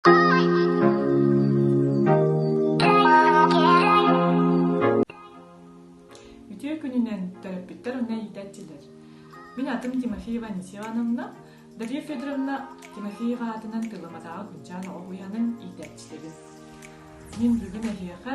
Үтүө күнүнэн төрөппүттэр уонна иитээччилэр. Мин атым Тимофеева Анисьевановна. Дария Федоровна Тимофеева аатынан тыламатааҕы Кунчаан оҕо уйаанын иитээччилэрин. Мин бүгүн эһиэхэ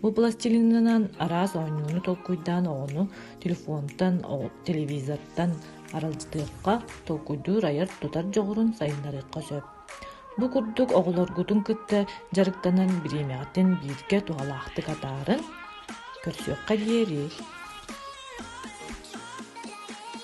Бу пластилинынан араас оонньууну толкуйдаан оҕону телефонтан, телевизортан аралдьытыахха, толкуйдуур айар-тутар дьоҕурун сайыннарыахха сөп. Бу курдук оҕолоргутун кытта дьарыктанан бириэмэҕитин бииргэ туһалаахтык атааран көрсүөххэ диэри